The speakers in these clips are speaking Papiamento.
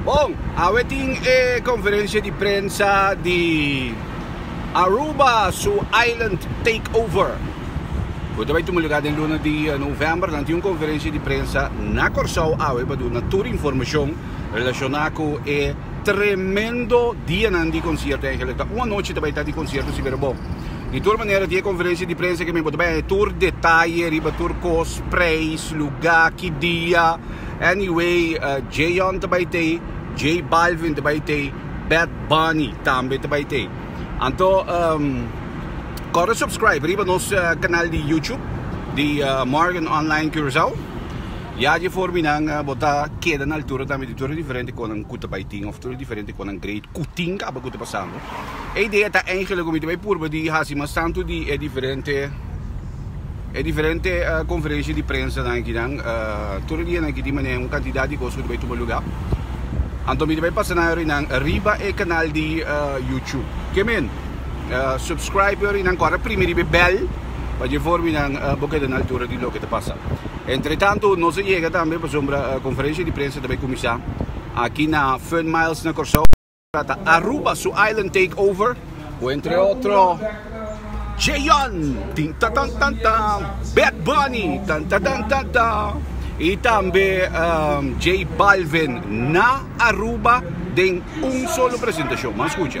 Bon, awe tin e conferencia di prensa di Aruba su island takeover. Bo ta bay tuma lugar den luna di november. Nan tin un conferencia di prensa na Corsou awe pa duna tur informacion relaciona cu e. Tremendo dianan di concierto Angel. Ta un anochi ta bay ta di concierto si pero bon. Di tur manera tin e conferencia di prensa ke men bo ta bay haña tur detaye riba tur cos, prijs, luga, ki dia. Anyway J-Young ta bay tey, J Balvin ta bay tey, Bad Bunny tambe ta bay tey. Anto kore subscribe riba nos canal di YouTube di Morgan Online Curaçao. Ya dje for mi nan bo ta keda na altura tambe di tur e diferente konan ku ta bai tin of tur e diferente konan grade ku tin kaba ku ta pasambo. E idea ta engelek ku mi ta bai purba di hasi mas tantu di e diferente e diferente konferensia di prensanan aki nan tur e dianan aki tin manera un kantidat di kos ku ta bai tuma lugá. Anto mi ta bai pasa nan yorinan nan riba e kanal di yutup. Ke men subscribe yorinan kòrda primi riba e bèl pa dje for mi nan bo keda na altura di loke ta pasa. Entretanto nos a yega tambe pasobra conferencia di prensa ta bay cuminsa aki na Fun Miles na Corsou. Ahora ta Aruba su island take over cu entre otro Jayon, tin ta tan tan ta, Bad Bunny, tan ta tan ta ta, y tambe J Balvin na Aruba den un solo presentacion. M'a scucha.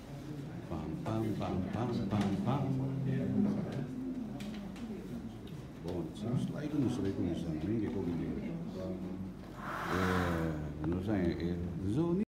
Pam pam pam pam pam pam. Bon, si nos ta ku nos reku nos an ringe ko bini hoy. Eh, nos an e zoni.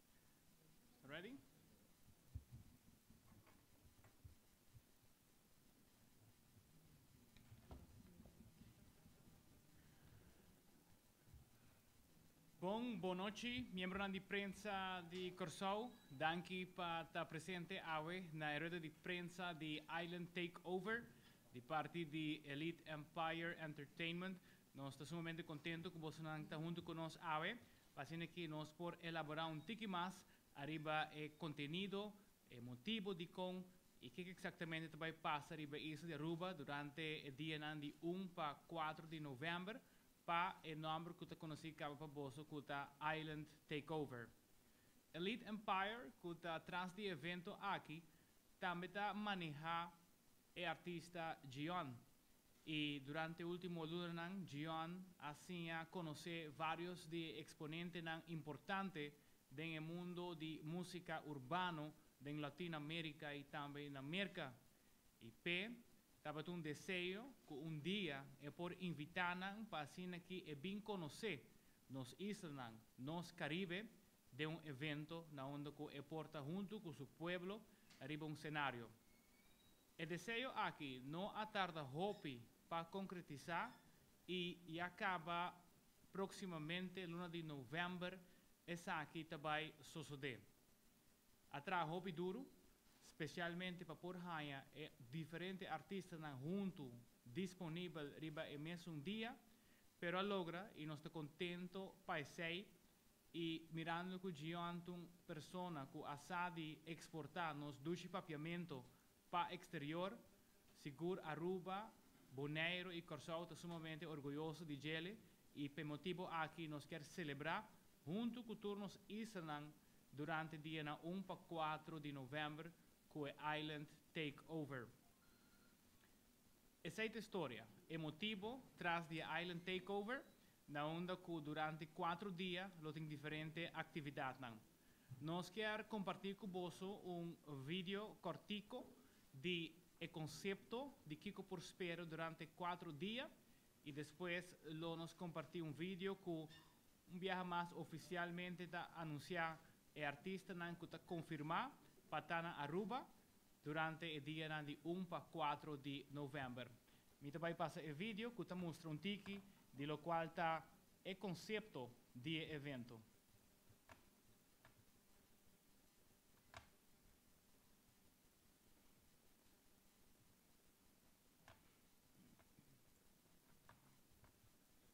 Ready? Bon, bon nochi, miembronan di prensa di Kòrsou. Danki pa ta presente awe na e rueda di prensa di Island Takeover di parti di Elite Empire Entertainment. Nos ta sumamente kontentu ku bosonan ta huntu ku nos awe. Pasobra ki nos por elaborá un tiki mas ariba e kontenido, e motibu dikon i ke eksaktamente ta bai pasa riba e isla di Aruba durante e dianan di un pa kuater di novèmber pa e nòmber ku ta konosí kaba pa boso ku ta Island Takeover. Elite Empire, ku ta tras di e evento aki, tambe ta manehá e artista Djion, y durante ultimo lunanan Djion a siña conoce varios di e exponentenan importante den e mundo di musica urbano den Latin-America y tambe na Merca, y p'e tabata un deseo cu un dia e por invita nan pa asina ki e bin conoce nos islanan, nos Caribe, den un evento na unda cu e por ta hunto cu su pueblo riba un scenario. E deseo aki no a tarda hopi pa concretisa y ya caba proximamente luna di november esaki ta bay sosode. A traha hopi duro, specialmente pa por haya e diferente artistanan hunto disponibel riba e mesun dia, pero a logra y nos ta contento pa esey. y mirando cu Gioan ta un persona cu a sa di exporta nos dushi papiamento pa exterior, sigur Aruba, Boneiro y Corsow ta sumamente orguyoso di djele y p'e motibo aki nos kier celebra hunto cu tur nos islanan durante dianan un pa cuatro di november cu e Island Takeover. Esei ta e storia, e motibo tras di e Island Takeover, na unda ku durante kuatro dia lo tin diferente aktividatnan. Nos kier kompartí ku boso un video kòrtiku di e konsepto di kiko por spera durante kuatro dia i despues lo nos kompartí un video ku un biaha mas ofisialmente ta anunsiá e artistanan ku ta konfirmá pa ta na Aruba Durante e dianan di un pa kuatro di novèmber. Mi ta bai pasa e video ku ta mustra un tiki di lokual ta e konsepto di e evento.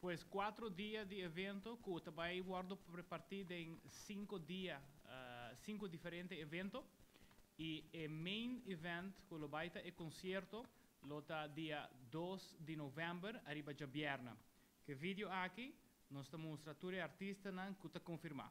Pues cuatro dia di evento cu ta bay wordo reparti den cinco dia, cinco diferente evento y e main event cu lo bay ta e concierto lo ta dia dos di november ariba djabièrna. Cu e video aki nos ta mustra tur e artistanan cu ta confirma.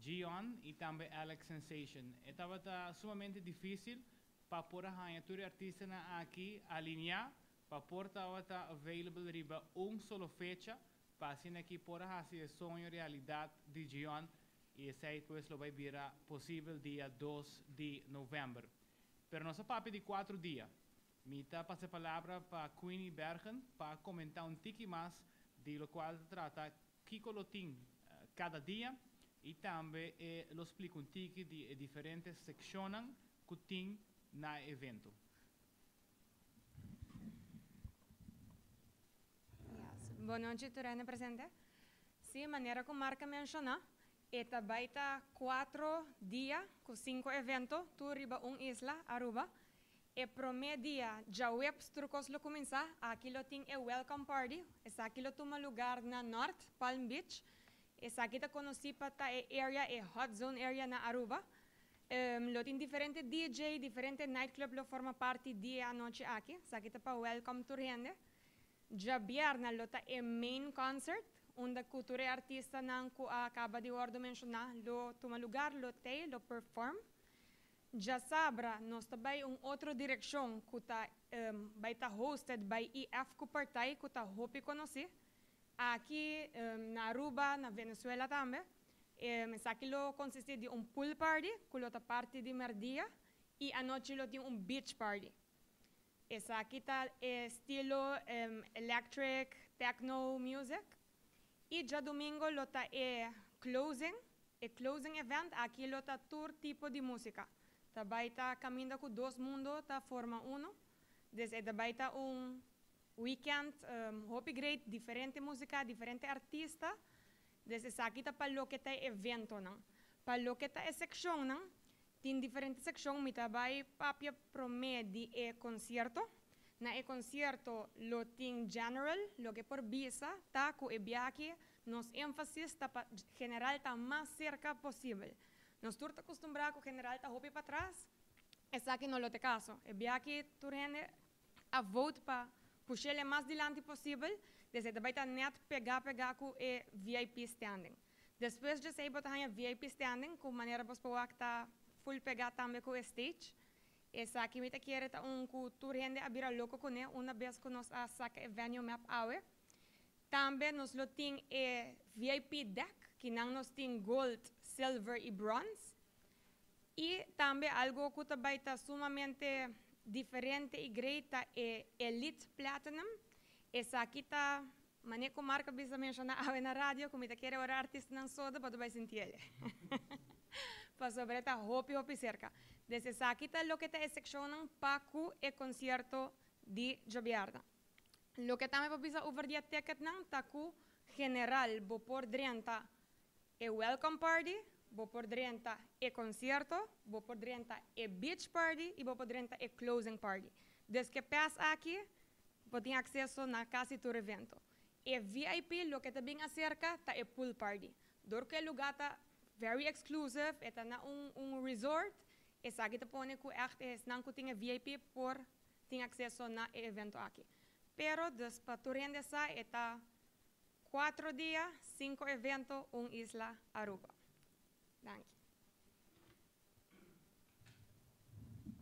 Gion y tambe Alex Sensation. E tabata sumamente dificil pa por a haña tur e artistanan aki alineá pa por tabata available riba un solo fecha pa asina ki por a haci e soño realidad di Gion y esey pues lo bay bira posibel dia dos di november. Pero nos a papia di cuatro dia. Mi ta pasa e palabra pa Queenie Bergen pa comentá un tiki mas di locual ta trata Kiko lo tin kada dia y tambe e lo splica un tiki di e diferente seccionnan cu tin na e evento. Bon nochi tur hende presente. Si, manera cu Marc menciona, e ta bay ta cuatro dia cu cinco evento tur riba un isla, Aruba, E promé dia djaweps tur kos lo kuminsá. Aki lo tin e welcome party. Esaki lo tuma lugar na Nort Palm Beach. Esaki ta konosí pa ta e area e hot zone area na Aruba. Lo tin diferente DJ, diferente night club lo forma parti di e anochi aki. Esaki ta pa welcome tur hende. Djabièrnè lo ta e main concert unda ku tur e artistanan ku a kaba di wòrdu menshoná lo tuma lugar, lo tei, lo perform. Djasabra nos ta bai un otro direkshon ku ta bai ta hosted bai EF ku partai ku ta hopi konosí aki na Aruba, na Venezuela tambe. Esaki lo konsistí di un pool party ku lo ta parti di merdia i anochi lo tin un beach party. Esaki ta e estilo electric, techno music. Y djadomingo lo ta e closing, e closing event aki lo ta tur tipo di musica, ta bay ta caminda cu dos mundo ta forma uno, des e ta bay ta un weekend hopi great, diferente musica, diferente artista, des esaki ta pa loke ta e eventonan. Pa loke ta e seccionnan Tin diferente sekshon mi ta bai papia promé di e konsierto. Na e konsierto lo tin general, loke por bisa ta ku e biahe nos énfasis ta pa general ta mas serka posibel. Nos tur ta kustumbrá ku general ta hopi patras, esaki no lo t'e kaso. E biahe tur hende a vote pa pushe le mas dilanti posibel, desei ta bai ta net pega pega ku e vip standing. Despues djesei bo ta haña vip standing ku manera bos por wak ta full pega tambe ku e stage. Esaki mi ta kere ta un ku tur hende a bira loko kuné una bes ku nos a saka e venue map awe. Tambe nos lo tin e vip deck kinan nos tin gold, silver i bronze. Y tambe algo cu ta bay ta sumamente diferente y great ta e Elite Platinum. Esaki ta, manera cu Marco bisa a menciona awe na radio, cu mi ta kere ora artistanan soda pa tur bay sinti ele. Pasobra e ta hopi hopi cerca. Des esaki ta loke ta e seccionnan pa cu e concierto di djobiarna. Loke tambe pa bisa over di e ticketnan ta cu general bo por drenta e welcome party, bo por drenta e concierto, bo por drenta e beach party y bo por drenta e closing party. Desque pes aki bo tin acceso na casi tur evento. E vip loke ta bin acerca ta e pool party. Door cu e lugar ta very exclusive, e ta na un un resort, esaki ta pone cu echt esnan cu tin e vip por tin acceso na e evento aki. Pero dus pa tur hende sa e ta Cuatro dia, cinco evento, un isla Aruba. Danki.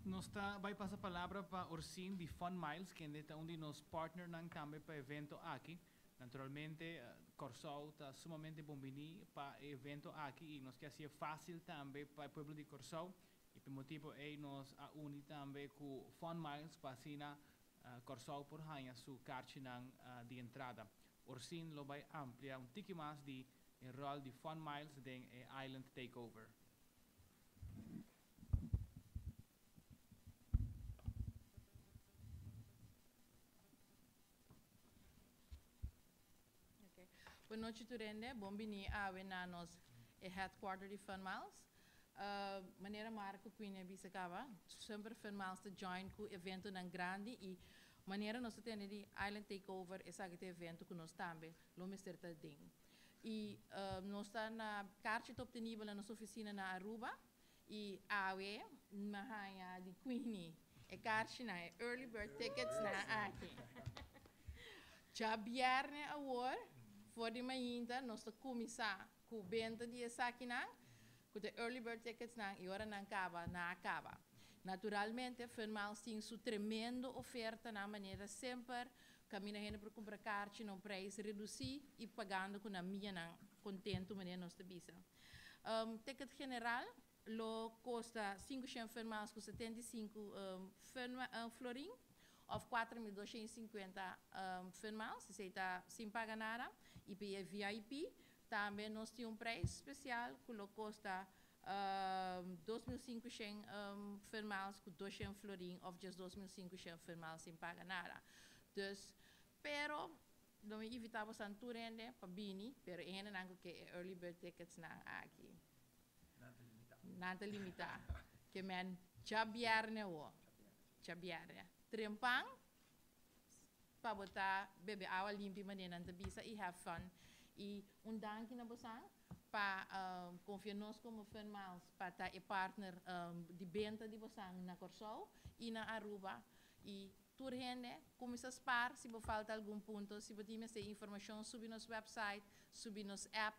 Nos ta bai pasa palabra pa Orsin di Fun Miles, kende ta un di nos partnernan tambe pa evento aki. Naturalmente, Kòrsou ta sumamente bon biní pa e evento aki i nos ke hasié fásil tambe pa e pueblo di Kòrsou. I p'e motibu ei nos a uni tambe ku Fun Miles pa asina Kòrsou por haña su karchinan di entrada. Orsín lo bai amplia un tiki mas di e ròl di Fun Miles den e Island Takeover. Ok. Bo nochi tur hende. Bon bini awe na nos e headquarter di Funmiles. Manera Marco Quine a bisa caba, semper Funmiles ta join cu eventonan grandi y manera nos ta tene di Island Takeover esaki ta evento cu nos tambe lo mester ta den. Y nos ta na carchi ta obtenible na nos oficina na Aruba Y awe mi a haña di Queenie e karshinan, e early bird tickets nan aki. Djabièrnè awor, for di mainta, nos ta kuminsá ku benta di esakinan, ku ta e early bird tickets nan, y ora nan kaba, nan a kaba. Naturalmente, Funmiles tin su tremendo ofertanan, manera semper, kaminda hende por kumpra karchi na un preis redusí y pagando ku nan mianan kontentu, manera nos ta bisa. Ticket general lo kosta sinku shen fermans ku setenta i sinku florin òf kuater mil doshen i sinkuenta fermans, esei ta sin paga nada, i pa e VIP tambe nos tin un preis spesial ku lo kosta dos mil sinku shen fermans ku dos shen florin òf djesdos mil sinku shen fermans sin paga nada. Dus, pero Lo mi invita bo san tur hende pa bini, pero e hendenan cu ke e early bird tickets nan aki, Nan ta limita. nan ta limita. Ke men djabièrnè awo, djabièrnè, trempan pa bo ta bebe awa limpi manera nan ta bisa y have fun. Y un danki na bosan pa confia nos como Fun Miles pa ta e partner di benta di bosan na Corsou y na Aruba y Tur hende, kuminsá spar si bo falta algun punto, si bo tin mester informashon subi nos wèpsait, subi nos èp,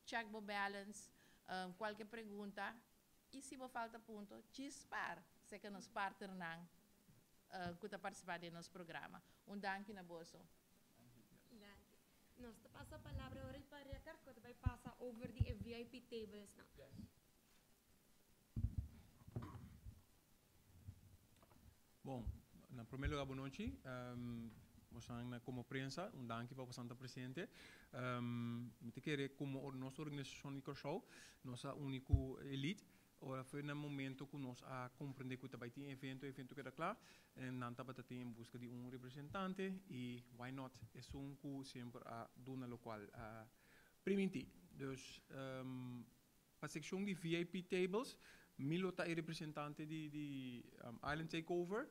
chèk bo bèlens, kualke pregunta, i si bo falta punto, djis spar seka nos partnernan ku ta partisipá den nos programa. Un danki na boso. Danki. Nos ta pasa palabra ora di pa Reker ku ta bai pasa over di e VIP tablesnan. Bon, na prome luga bo nochi. Bosan na komo prensa un danki pa bosan ta presente. Mi ta kere komo nos organisashon di Kòrsou nos a uni ku Elite ora afe na momento ku nos a komprende ku ta bai tin evento, evento keda kla en nan tabata tin en buska di un representante i why not esun ku semper a duna lokual a primintí. Dus. Pa sekshon di vip tables mi lo ta e representante di Island Takeover.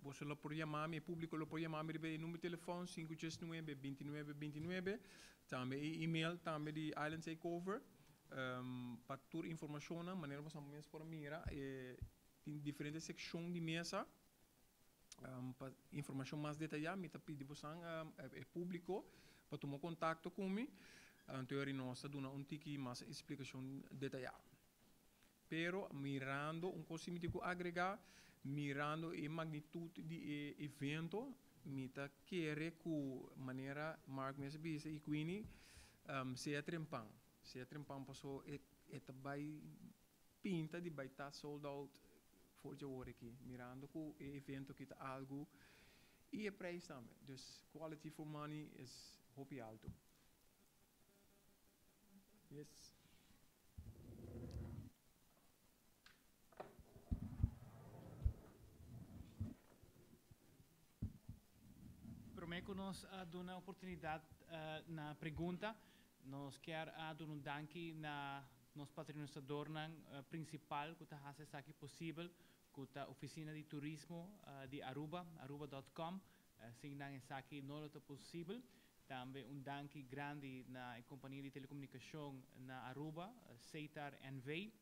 Boso lo por yama mi, e públiko lo por yama mi riba e number telefòn sinku djes nuebe binti nuebe binti nuebe, tambe e email tambe di Island Takeover pa tur informashonnan manera ku boso amo mes por a mira tin diferente sekshon di mesa. Pa informashon mas detayá mi ta pidi bosan e públiko pa tuma kontakto ku mi, anto eri nos ta duna un tiki mas splikashon detayá. Pero mirando un kos si mi tin ku agregá, mirando e magnitut di e evento mi ta kere ku manera Mark mes a bisa i Queenie sea trempan, sea trempan paso e ta bai pinta di bai ta sold out For dje ora aki, mirando cu e evento aki ta algo y e prijs tambe. Dus quality for money is hopi alto. Yes. Prome cu nos a duna oportunidad na pregunta, nos kier a duna un danki na. Nos patronisadornan principal cu ta haci esaki posibel cu ta Oficina di Turismo di Aruba, Aruba dot com, sin nan esaki no lo ta posibel. Tambe un danki grandi na e compania di telecomunicacion na Aruba, Ceitar NV.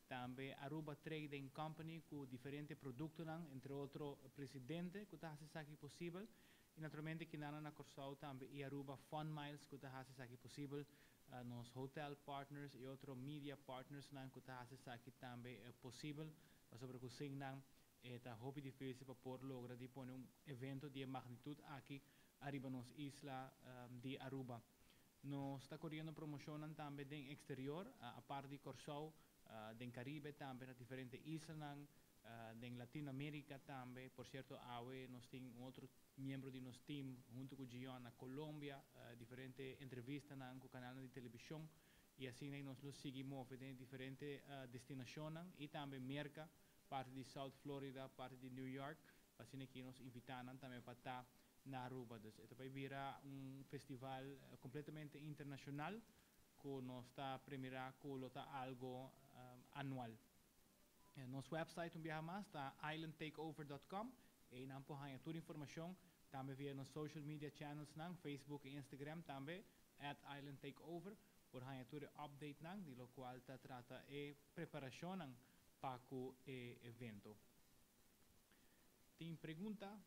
Tambe Aruba Trading Company cu diferente productonan, entre otro Presidente cu ta haci esaki posibel. Y naturalmente kinannan na Corsou tambe y Aruba Fun Miles cu ta haci esaki posibel, nos hotel partners y otro media partnersnan cu ta haci esaki tambe posibel, pasobra cu sin nan e ta hopi difícil pa por logra di pone un evento di e magnitud aki ariba nos isla di Aruba. Nos ta coriendo promocionnan tambe den exterior, apart di Corsou, den Caribe tambe na diferente islanan, den Latin America tambe. Por cierto awe nos tin un otro miembro di nos team hunto cu Gion na Colombia, diferente entrevistanan cu canalnan di television y asina y nos lo sigui move den diferente destinacionnan y tambe Merca Parti di South Florida, parti di New York, asina ki nos invita nan tambe pa ta na Aruba. Dus e ta bay bira un festival completamente internacional cu nos ta premira cu lo ta algo anual. Nos website un biaha mas ta islandtakeover.com, ey nan por haya tur informacion, tambe via nos social media channels nan, Facebook y Instagram tambe, @islandtakeover, por haya tur e update nan di locual ta trata e preparacionnan Pa cu e evento tin pregunta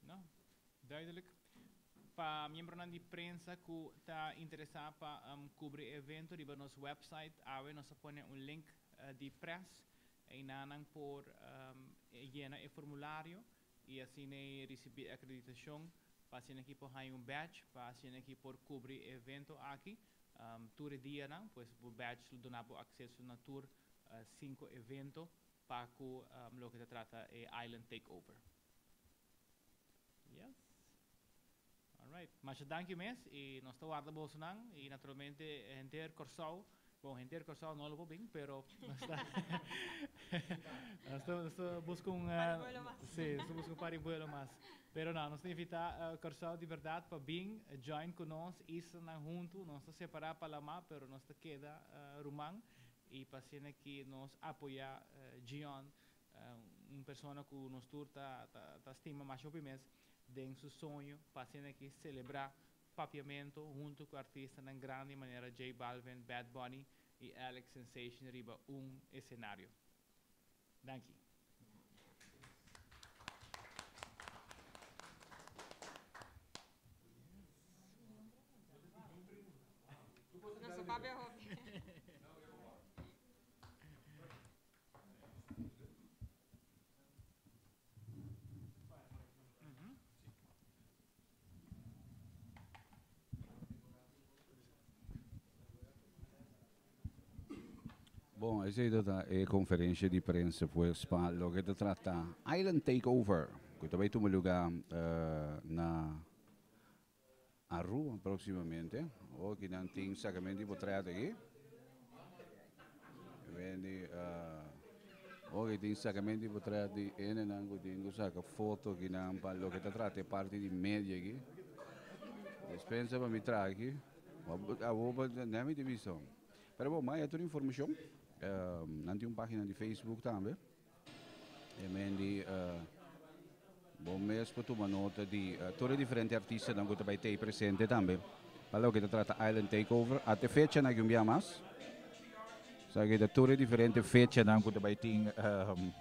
no duidelijk. Pa miembronan di prensa cu ta interesa pa cubri e evento riba nos website awe nos a pone un link di press eyna nan por yena e formulario. y asina e ricibi e acreditacion pa asina aki por haya un badge pa asina aki por cubri e evento aki tur e dianan, pues bo badge lo duna bo acceso na tur cinco evento pa cu loke ta trata e Island Takeover. Yes. Alright, masha danki mes y nos ta warda bosonan y naturalmente henter Corsou, bon henter Corsou no lo por bin pero nos ta nos ta nos ta busca un Pari buelo mas. si nos ta busca un pari buelo mas pero no nos ta invita Corsou di berdad pa bin join cu nos islanan hunto nos ta separa Palama pero nos ta keda ruman y pa asina ki nos apoya Gion un persona cu nos tur ta ta ta stima masha hopi mes. den su soño pa asina aki selebrá papiamento huntu ku artistanan grandi manera J Balvin, Bad Bunny i Alex Sensation riba un esenario. Danki. Bon, ese ito ta e konferensha di prensa pues pa lo ke ta trata Island Takeover, ku ta bai tuma luga na Arua proximamente oki nan tin sacamento y bo trae aki Wendy uh, oki tin sacamento y bo trae di ene nan ku tin ku saca foto ki nan pa loke ta trata e parti di media aki despensa pa mi trae aki abo pa ne mi tin bisto pero bo maya tur informacion uh nan tin un pagina di Facebook tambe. E Mandy, uh, bon mes por tuma nota di uh, todo e diferente artista dan que tabay tei presente tambe. Palo que te trata Island Takeover, ate fecha na gumbia mas. Sa que te todo e diferente fecha dan que tabay tin um,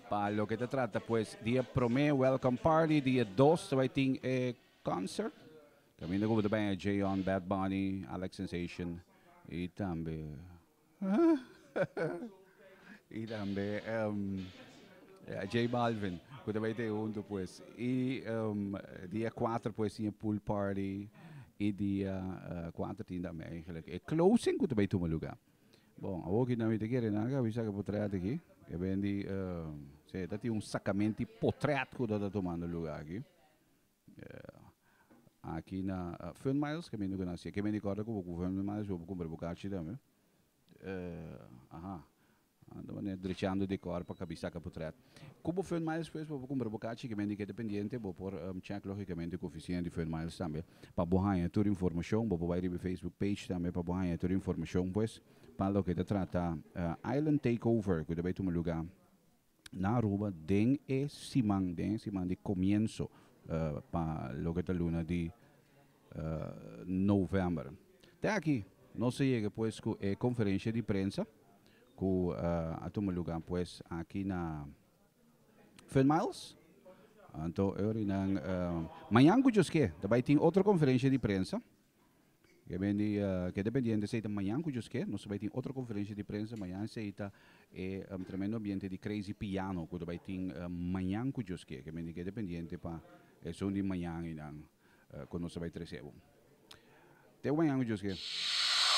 palo que te trata pues dia prome welcome party, dia dos tabay tin e concert. También de que tabay J on Bad Bunny, Alex Sensation y tambe y tambe J Balvin cu ta bay te hunto pues y dia cuater pues tin e pool party y dia cuater tin tambe eigenlijk e closing cu ta bay tuma lugar bon awor cu nan ta kere naga avisá cu potret aki e bendi ta tin un sacamenti potret cu ta ta tumando lugar aki. Aki na Fun Miles ke mi no conocia. Ke mi di corda cu bo cu Fun Miles bo bo cumpra bo cachi tambe. Aha. Ando mane drechando di cor pa cabi saca putret. Cu bo Fun Miles pues bo bo cumpra bo cachi. Ke men di keda pendiente bo por check logicamente cu oficina di Fun Miles tambe pa bo haya tur informacion. Bo por bay riba e Facebook page tambe pa bo haya tur informacion pues pa loke ta trata Island Takeover cu ta bay tuma lugar. na Aruba den e siman, den e siman di comienso pa loke ta luna di november. Te aki nos a yega pues cu e conferencia di prensa cu a tuma lugar pues aki na Finn Miles. Anto e ora y nan mañan cu djosque ta bay tin otro conferencia di prensa. Ke bendi ke dependiente esei ta mañan ku Juske. Nos ta bai tin otro konferensia di prensa mañan esei ta e tremendo ambiente di Crazy Piano ku ta bai tin mañan ku Juske. Ke bendi ke dependiente pa esun di mañan einan ku nos ta bai trese bo. Teo mañan ku Juske.